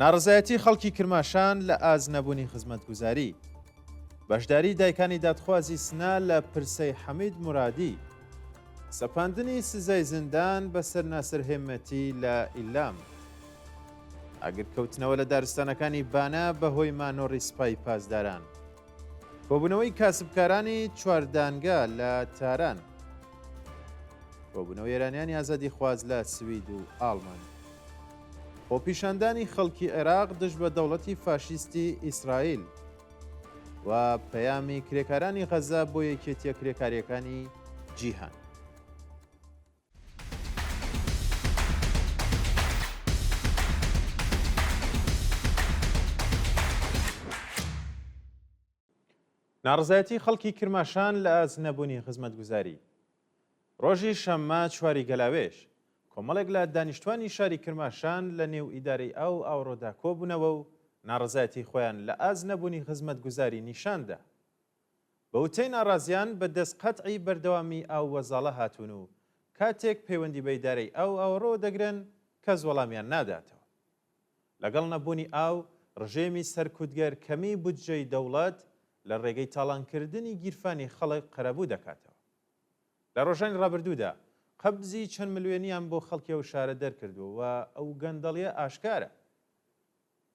ناڕەزایەتی خەڵکی کرماشان لە ئاست نەبوونی خزمەتگوزاری. بەشداری دایکانی دادخوازی سنە لە پرسەی حەمید مورادی. سەپاندنی سزای زیندان بەسەر ناسر هێمەتی لە ئیلام. ئاگرکەوتنەوە لە دارستانەکانی بانە بەهۆی مانۆڕی سپای پاسداران. کۆبوونەوەی کاسبکارانی چواردانگە لە تاران. کۆبوونەوە ئێرانیانی ئازادیخواز لە سوید و ئاڵمان. خۆپیشاندانی خەڵکی عێراق دژ بە دەوڵەتی فاشیستی ئیسرائیل و پەیامی کرێکارانی غەزە بۆ یەکێتیە کرێکاریەکانی جیهان. ناڕزایەتی خەڵکی کرماشان لە ئاست نەبوونی خزمەتگوزاری. ڕۆژی شەممە چواری گەلاوێژ، کۆمەڵێک لە دانیشتوانی شاری کرماشان لە نێو ئیدارەی ئاو ئاوڕۆدا کۆبوونەوە و ناڕەزایەتی خۆیان لە ئاست نەبوونی خزمەتگوزاری نیشان دا. بە وتەی ناڕازیان بە دەست قەتعی بەردەوامی ئاو وەزاڵە هاتوون و کاتێک پەیوەندی بە ئیدارەی ئاو ئاوەڕۆوە دەگرن کەس وەڵامیان ناداتەوە. لەگەڵ نەبوونی ئاو، ڕژێمی سەرکوتگەر کەمیی بودجەی دەوڵەت لە ڕێگەی تاڵانکردنی گیرفانی خەڵک قەرەبوو دەکاتەوە. لە ڕۆژانی ڕابردوودا قەبزی چەند ملوێنییان بۆ خەڵکی ئەو شارە دەرکردووە و ئەو گەندەڵییە ئاشکارە.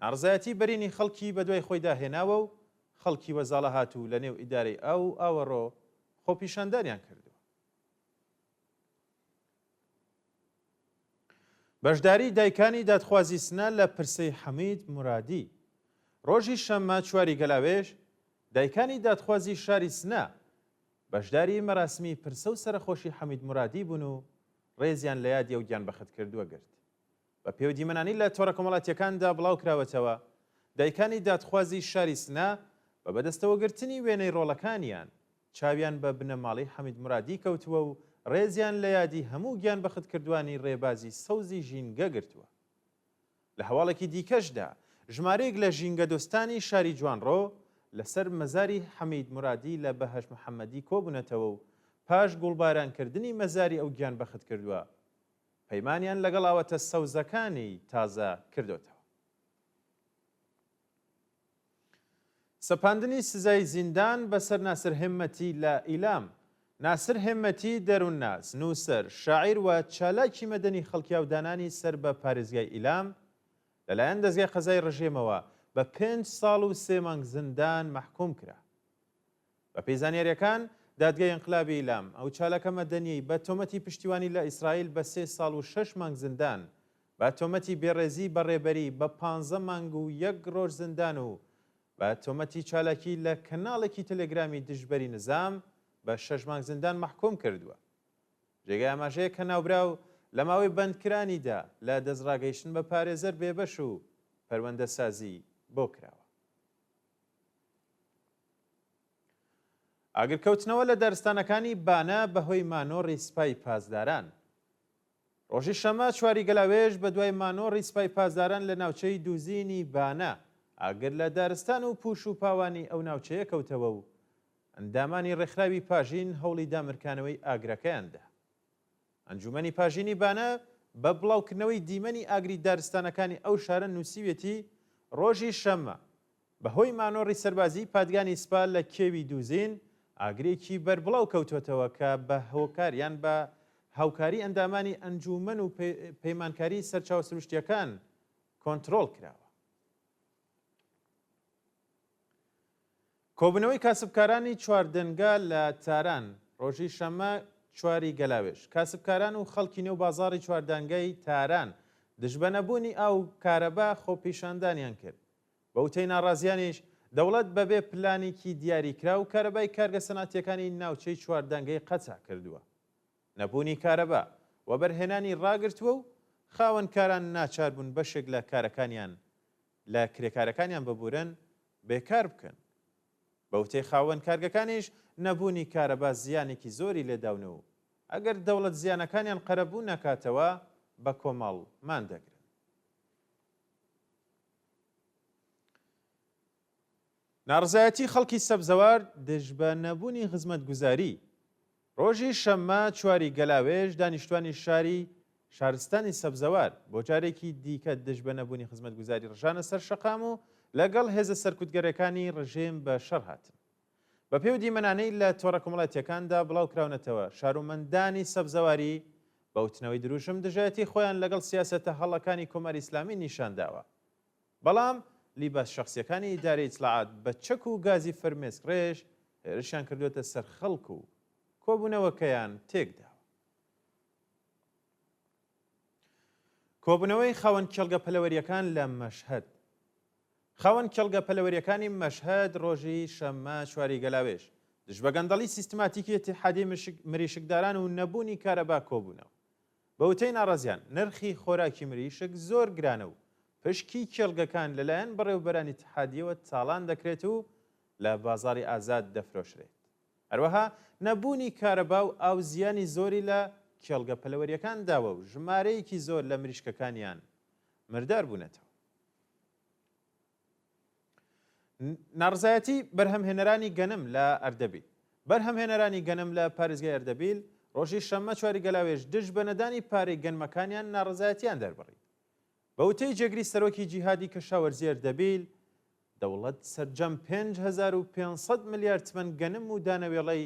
ناڕەزایەتیی بەرینی خەڵکی بەدوای خۆیدا هێناوە و خەڵکی وەزاڵەهاتوو لەنێو ئیدارەی ئاو و ئاوەڕۆ خۆپیشاندانیان کردووە. بەشداری دایکانی دادخوازی سنە لە پرسەی حەمید مورادی ڕۆژی شەممە چواری گەلاوێژ دایکانی دادخوازی شاری سنە بەشداری مەراسمی پرسە و سەرەخۆشی حەمید مورادی بوون و ڕێزیان لە یادی و گیان بەخت کردووە گرت بە پێودیمەنانی لە تۆڕە کۆمەڵاتیەکاندا بڵاو کراوەتەوە دایکانی دادخوازی شاری سنە بە بەدەستەوەگرتنی وێنەی ڕۆڵەکانیان چاویان بە بنەماڵەی حەمید مورادی کەوتووە و ڕێزیان لە یادی هەموو گیانبەختکردوانی ڕێبازی سەوزی ژینگە گرتووە. لە هەواڵێکی دیکەشدا، ژمارەیەک لە ژینگەدۆستانی شاری جوانڕۆ، لەسەر مەزاری حەمید مورادی لە بەهەش محەمەدی کۆبوونەتەوە و پاش گوڵبارانکردنی مەزاری ئەو گیانبەختکردووە، پەیمانیان لەگەڵ ئاوەتە سەوزەکانی تازە کردۆتەوە. سەپاندنی سزای زیندان بەسەر ناسر هێممەتی لە ئیلام ناسر هێممەتی، دەروونناس، نووسەر، شاعیر و چالاکی مەدەنی خەڵکیاودانانی سەر بە پارێزگای ئیلام، لەلایەن دەزگای قەزای ڕژێمەوە بە پێنج ساڵ و سێ مانگ زیندان مەحکووم کرا. بەپێی زانیارییەکان، دادگای ئینقلابی ئیلام، ئەو چالاکە مەدەنییەی بە تۆمەتی پشتیوانی لە ئیسرائیل بە سێ ساڵ و شەش مانگ زیندان، بە تۆمەتی بێڕێزی بە ڕێبەری بە پانزە مانگ و یەک ڕۆژ زیندان و بە تۆمەتی چالاکی لە کەناڵێکی تێلێگرامی دژبەری نیزام بە شەش مانگ زیندان مەحکووم کردووە. جێگای ئاماژەیە کە ناوبراو لە ماوەی بەندکرانیدا لە دەستڕاگەیشتن بە پارێزەر بێبەش و پەروەندەسازی بۆ کراوە. ئاگرکەوتنەوە لە دارستانەکانی بانە بەهۆی مانۆڕی سپای پاسداران. ڕۆژی شەمە چواری گەلاوێژ بە دوای مانۆڕی سپای پاسداران لە ناوچەی دووزینی بانە ئاگر لە دارستان و پوش و پاوانی ئەو ناوچەیە کەوتەوە و ئەندامانی ڕێکخراوی پاژین هەوڵی دامرکانەوەی ئاگرەکەیاندا. ئەنجوومەنی پاژینی بانە بە بڵاوکردنەوەی دیمەنی ئاگری دارستانەکانی ئەو شارە نووسیویەتی، ڕۆژی شەممە، بەهۆی مانۆڕی سەربازیی پادگانی سپا لە کێوی دووزین، ئاگرێکی بەربڵاو کەوتووەتەوە کە بە هۆکار یان بە هاوکاری ئەندامانی ئەنجوومەن و پەیمانکاری سەرچاوە سروشتییەکان کۆنترۆڵ کراوە. کۆبوونەوەی کاسبکارانی چواردەنگە لە تاران، ڕۆژی شەممە چوار ی گەلاوێژ، کاسبکاران و خەڵکی نێو بازاڕی چواردەنگەی تاران دژ بە نەبوونی ئاو و کارەبا خۆپیشاندانیان کرد. بە وتەی ناڕازییانیش، دەوڵەت بەبێ پلانێکی دیاریکراو کارەبای کارگە سەنعەتییەکانی ناوچەی چواردەنگەی قەتع کردووە. نەبوونی کارەبا، وەبەرهێنانی ڕاگرتووە و خاوەنکاران ناچار بوون بەشێک لە کارەکانیان لە کرێکارەکانیان ببورن بێکار بکەن. بە وتەی خاوەن کارگەکانیش نەبوونی کارەبا زیانێکی زۆری لێداون و ئەگەر دەوڵەت زیانەکانیان قەرەبوو نەکاتەوە بە کۆمەڵ مان دەگرن. ناڕزایەتی خەڵکی سەبزەوار دژبە نەبوونی خزمەتگوزاری ڕۆژی شەممە چواری گەلاوێژ، دانیشتوانی شاری شارستانی سەبزەوار، بۆ جارێکی دیکە دژ بە نەبوونی خزمەتگوزاری ڕژانە سەر شەقام و لەگەڵ هێزە سەرکوتگەرەکانی ڕژێم بە شەڕ هاتن. بە پێی و دیمەنانەی لە تۆڕە کۆمەڵاتییەکاندا بڵاو کراونەتەوە، شارومەندانی سەبزەواری بە وتنەوەی درووشم دژایەتی خۆیان لەگەڵ سیاسەتە هەڵەکانی کۆماری ئیسلامی نیشان داوە. بەڵام لیباس شەخسیەکانی ئیدارەی ئیتلاعات بە چەک و گازی فرمێسک ڕێژ هێرشیان کردووەتە سەر خەڵک و کۆبوونەوەکەیان تێکداوە. کۆبوونەوەی خاوەن کێڵگە پەلەوەریەکان لە مەشهەد. خاوەن کێڵگە پەلەوەریەکانی مەشهەد ڕۆژی شەممە چواری گەلاوێژ دژبە گەندەڵی سیستماتیکی ئیتیحادی مریشکداران و نەبوونی کارەبا کۆبوونەوە. بە وتەی ناڕازیان، نرخی خۆراکی مریشک زۆر گرانە و پشکی کێڵگەکان لەلایەن بەڕێوەبەرانی اتحادیەوە تاڵان دەکرێت و لە بازاڕی ئازاد دەفرۆشرێت. هەروەها نەبوونی کارەبا و ئاو زیانی زۆری لە کێڵگە پەلەوەریەکان داوە و ژمارەیەکی زۆر لە مریشکەکانیان مردار بوونەتەوە. ناڕزایەتی بەرهەمهێنەرانی گەنم لە ئەردەبیل بەرهەمهێنەرانی گەنم لە پارێزگای ئەردەبیل ڕۆژی شەممە چواری گەلاوێژ دژ بە نەدانی پارەی گەنمەکانیان ناڕزایەتیان دەربڕی بە وتەی جێگری سەرۆکی جیهادی کەشاوەرزی ئەردەبیل دەوڵەت سەرجەم 5500 ملیار تمەن گەنم و دانەوێڵەی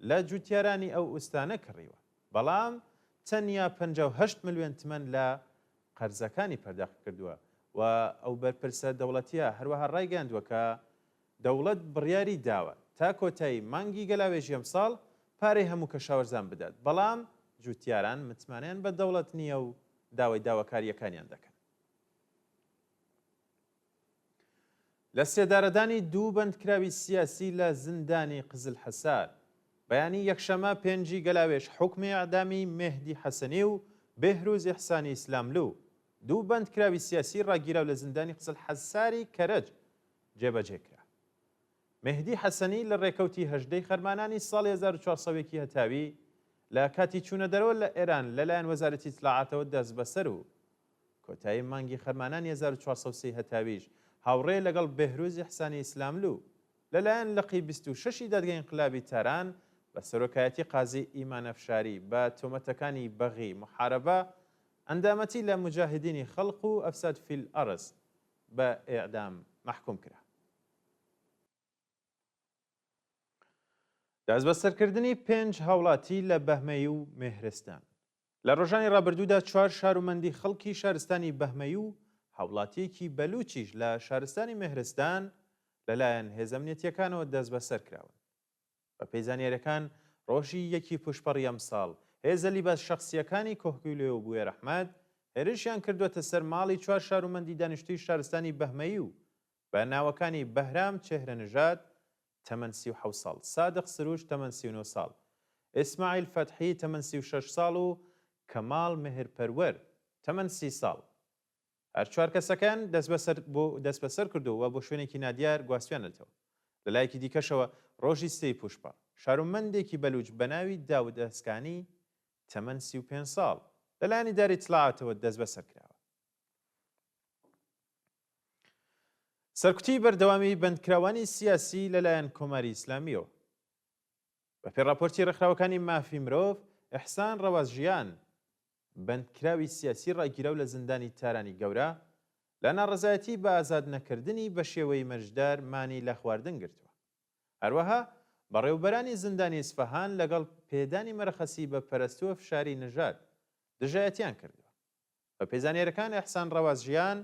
لە جوتیارانی ئەو ئوستانە کڕیوە بەڵام تەنیا 58 ملیۆن تمەن لە قەرزەکانی پەرداخ کردووە و ئەو بەرپرسە دەوڵەتییە هەروەها ڕایگەیاندووە کە دەوڵەت بڕیاری داوە تا کۆتایی مانگی گەلاوێژی ئەمساڵ پارەی هەموو کەشاوەرزان بدات، بەڵام جووتیاران متمانەیان بە دەوڵەت نییە و داوای داواکارییەکانیان دەکەن. لە سێدارەدانی دوو بەندکراوی سیاسی لە زیندانی قزل حەسار. بەیانی یەکشەمە پێنجی گەلاوێژ حوکمی ئیعدامی مێهدی حەسەنی و بێهروز ئیحسانی ئیسلاملو، دوو بەندکراوی سیاسی ڕاگیراو لە زیندانی قزل حەساری کەرەج جێبەجێ کرا. مێهدی حەسەنی لە ڕێکەوتی هەژدە ی خەرمانانی ساڵی هەزار و چوار سەد و یەک ی هەتاوی لە کاتی چوونەدەرەوە لە ئێران لەلایەن وەزارەتی ئیتلاعاتەوە دەستبەسەر و کۆتایی مانگی خەرمانانی هەزار و چوار سەد و سی هەتاویش هاوڕێ لەگەڵ بێهروز ئیحسانی ئیسلاملوو لەلایەن لقی بیست و شەش ی دادگەی ئینقلابی تاران بە سەرۆکایەتی قازی ئیمان ئەفشاری بە تۆمەتەکانی بەغی، محاربە، ئەندامەتی لە موجاهدینی خلق و افساد فی الارض بە ئێعدام مەحکووم کرا. دەستبەسەرکردنی پێنج هاوڵاتی لە بەهمەی و مێهرستان. لە ڕۆژانی ڕابردوودا چوار شارومەندی خەڵکی شارستانی بەهمەی و هاوڵاتییەکی بەلووچیش لە شارستانی مێهرستان لەلایەن هێزە ئەمنیەتییەکانەوە دەستبەسەر کراون. بەپێی زانیارییەکان ڕۆژی یەکی پووشپەڕی ئەمساڵ هێزە لیباس شەخسییەکانی کۆهگیلۆ و بوێرەحمەد هێرشیان کردووەتە سەر ماڵی چوار شارومەندی دانیشتووی شارستانی بەهمەی و بە ناوەکانی، بەهرام چێهرە نژاد، تەمەن سی و حەوت ساڵ، سادق سروش، تەمەن سی و نۆ ساڵ، ئیسماعیل فەتحی، تەمەن سی و شەش ساڵ و کەماڵ مێهرپەروەر، تەمەن سی ساڵ. هەر چوار کەسەکەیان دەسبەسەر کردووە و بۆ شوێنێکی نادیار گواستویانەتەوە. لە لایەکی دیکەشەوە، رۆژی سێی پووشپا، شارومەندێکی بەلووچ بە ناوی داود ئەسکانی، تەمەن سی و پێنج ساڵ، لە لایەن ئیدارەی ئیتلاعاتەوە دەسبەسەر کراوە. سەرکوتی بەردەوامی بەندکراوانی سیاسی لەلایەن کۆماری ئیسلامیەوە. بەپێ ڕاپۆرتی ڕێکخراوەکانی مافی مرۆڤ، ئیحسان ڕەواز ژیان، بەندکراوی سیاسی ڕاگیراو لە زیندانی تارانی گەورە، لە ناڕەزایەتی بە ئازاد نەکردنی بە شێوەی مەرجدار مانی لە خواردن گرتووە. هەروەها بەڕێوبەرانی زیندانی ئیسفەهان لەگەڵ پێدانی مەرەخەسی بە پەرستوە فشاری نژاد، دژایەتیان کردووە. بەپێی زانیاریەکان ئێحسان ڕەواز ژیان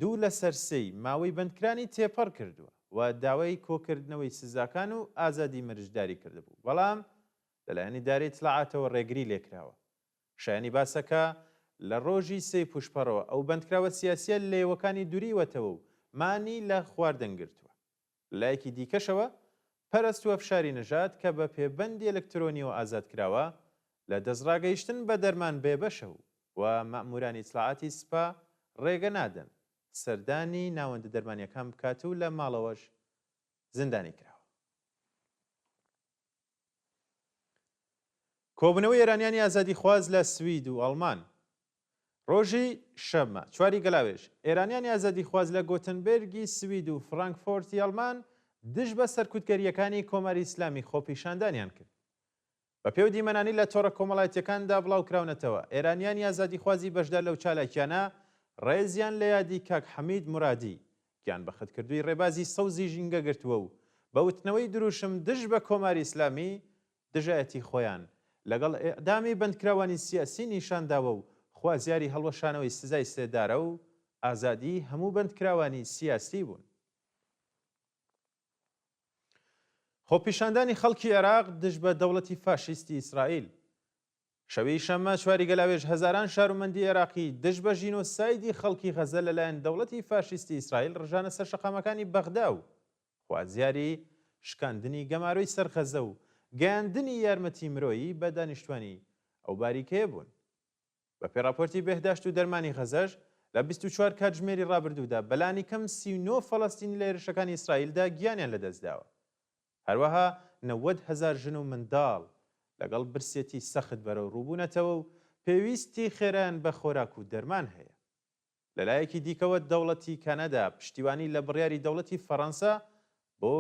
دوو لەسەر سێی ماوەی بەندکرانی تێپەڕ کردووە و داوای کۆکردنەوەی سزاکان و ئازادی مرجداری کردبوو بەڵام لەلایەن ئیدارەی ئیتلاعاتەوە ڕێگری لێکراوە شایانی باسە کە لە ڕۆژی سێی پوشپەڕەوە ئەو بەندکراوە سیاسیە لێوەکانی دوریوەتەوە و مانی لە خواردن گرتووە. لە لایەکی دیکەشەوە، پەرەستووە فشاری نەژاد کە بە پێبەندی ئەلکترۆنیەوە ئازاد کراوە، لە دەستڕاگەیشتن بە دەرمان بێبەشە و مەئموورانی ئیتلاعاتی سپا ڕێگە نادەن سەردانی ناوەندە دەرمانییەکان بکات و لە ماڵەوەش زیندانی کراوە. کۆبوونەوەی ئێرانیانی ئازادیخواز لە سوید و ئەڵمان. ڕۆژی شەممە، چواری گەلاوێژ، ئێرانیانی ئازادیخواز لە گۆتنبێرگی سوید و فرانکفۆرتی ئەڵمان دژ بە سەرکوتگەرییەکانی کۆماری ئیسلامی خۆپیشاندانیان کرد. بەپێو دیمەنانی لە تۆڕە کۆمەڵایەتییەکاندا بڵاوکراونەتەوە، ئێرانیانی ئازادیخوازی بەشدار لەو چالاکییانە ڕێزیان لە یادی کاک حەمید مورادی، گیانبەختکردووی ڕێبازی سەوزی ژینگە گرتووە و بە وتنەوەی درووشم دژ بە کۆماری ئیسلامی دژایەتی خۆیان لەگەڵ ئێعدامی بەندکراوانی سیاسی نیشان داوە و خوازیاری هەڵوەشانەوەی سزای سێدارە و ئازادی هەموو بەندکراوانی سیاسی بوون. خۆپیشاندانی خەڵکی عێراق دژ بە دەوڵەتی فاشیستی ئیسرائیل، شەوی شەممە چواری گەلاوێژ هەزاران شارومەندی عێراقی دژ بە ژینۆسایدی خەڵکی غەزە لەلایەن دەوڵەتی فاشیستی ئیسرائیل ڕژانە سەر شەقامەکانی بەغدا و خوازیاری شکاندنی گەمارۆی سەر غەزە و گەیاندنی یارمەتی مرۆیی بە دانیشتوانی ئەو باریکەیە بوون. بەپێی ڕاپۆرتی بێهداشت و دەرمانی غەزەش لە بیست و چوار کاتژمێری ڕابردوودا بەلانیکەم سی و نۆ فەلەستینی لە هێرشەکانی ئیسرائیلدا گیانیان لەدەستداوە هەروەها نەوەد هەزار ژن و منداڵ لەگەڵ برسێتی سەخت بەرەوڕووبوونەتەوە و پێویستی خێرایان بە خۆراک و دەرمان هەیە. لەلایەکی دیکەوە دەوڵەتی کەنەدا پشتیوانی لە بڕیاری دەوڵەتی فەڕەنسا بۆ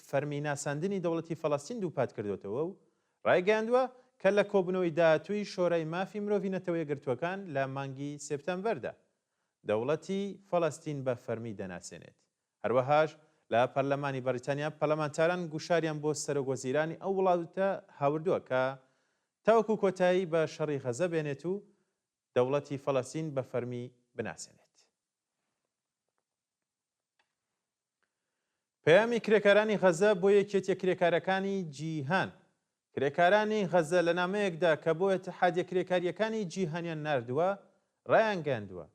فەرمی ناساندنی دەوڵەتی فەڵەستین دووپاتکردۆتەوە و ڕایگەیاندووە کە لە کۆبوونەوەی داهاتووی شۆرای مافی مرۆڤی نەتەوەیەکگرتووەکان لە مانگی سێپتامبەردا دەوڵەتی فەڵەستین بە فەرمی دەناسێنێت هەروەهاش لە پەرلەمانی بەڕیتانیا پەرلەمانتاران گوشاریان بۆ سەرۆک وەزیرانی ئەو وڵاتە هاوردووە کە تاوەکو کۆتایی بە شەڕی غەزە بێنێت و دەوڵەتی فەلەستین بە فەرمی بناسێنێت. پەیامی کرێکارانی غەزە بۆ یەکێتیە کرێکارەکانی جیهان کرێکارانی غەزە لە نامەیەکدا کە بۆ ئەتحادیە کرێکاریەکانی جیهانیان ناردووە ڕایانگەندووە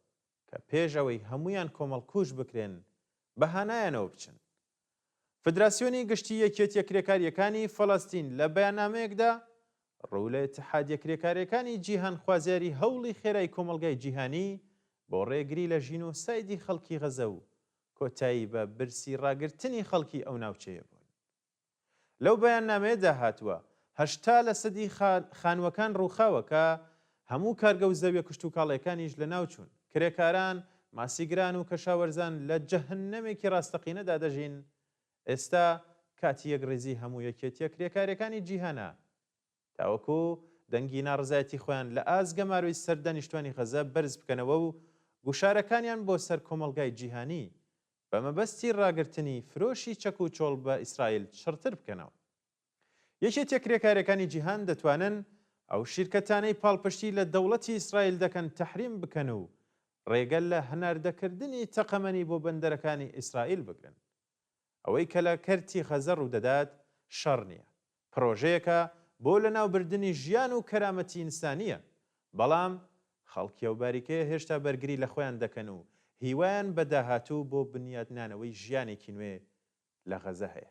کە پێش ئەوەی هەموویان کۆمەڵکوژ بکرێن بە هانایانەوە بچن. فدراسیۆنی گشتی یەکیەتیە کرێکاریەکانی فەلەستین لە بەیاننامەیەکدا ڕوو لە ئیتحادیە کرێکارێکانی جیهان خوازیاری هەوڵی خێرای کۆمەڵگای جیهانی بۆ ڕێگری لە ژینۆسایدی خەڵکی غەزە و کۆتایی بە برسی ڕاگرتنی خەڵکی ئەو ناوچەیە بوون. لەو بەیاننامەیەدا هاتووە، هەشتا لەسەدی خانووەکان رووخاوە کە هەموو کارگە و زەویە کشتوکاڵییەکانیش لەناوچوون، کرێکاران، ماسیگران و کەشاوەرزان لە جەهەنەمێکی راستەقینەدا دەژین، ئێستا کاتی یەکڕیزی هەموو یەکێتییە کرێکارییەکانی جیهانە، تاوەکو دەنگی ناڕەزایەتی خۆیان لە ئاست گەمارۆی سەر دانیشتوانی غەزە بەرز بکەنەوە و گوشارەکانیان بۆ سەر کۆمەڵگای جیهانی بە مەبەستی ڕاگرتنی فرۆشی چەک و چۆڵ بە ئیسرائیل چڕتر بکەنەوە. یەکێتیە کرێکارەکانی جیهان دەتوانن ئەو شیرکەتانەی پاڵپشتی لە دەوڵەتی ئیسرائیل دەکەن تەحریم بکەن و ڕێگە لە هەناردەکردنی تەقەمەنی بۆ بەندەرەکانی ئیسرائیل بگرن. ئەوەی کە لە کەرتی غەزە ڕوودەدات شەڕ نییە، پرۆژەیەکە بۆ لەناوبردنی ژیان و کەرامەتی ئینسانییە، بەڵام خەڵکی ئەو باریکەیە هێشتا بەرگری لە خۆیان دەکەن و هیوایان بە داهاتوو بۆ بنیاتنانەوەی ژیانێکی نوێ لە غەزە هەیە.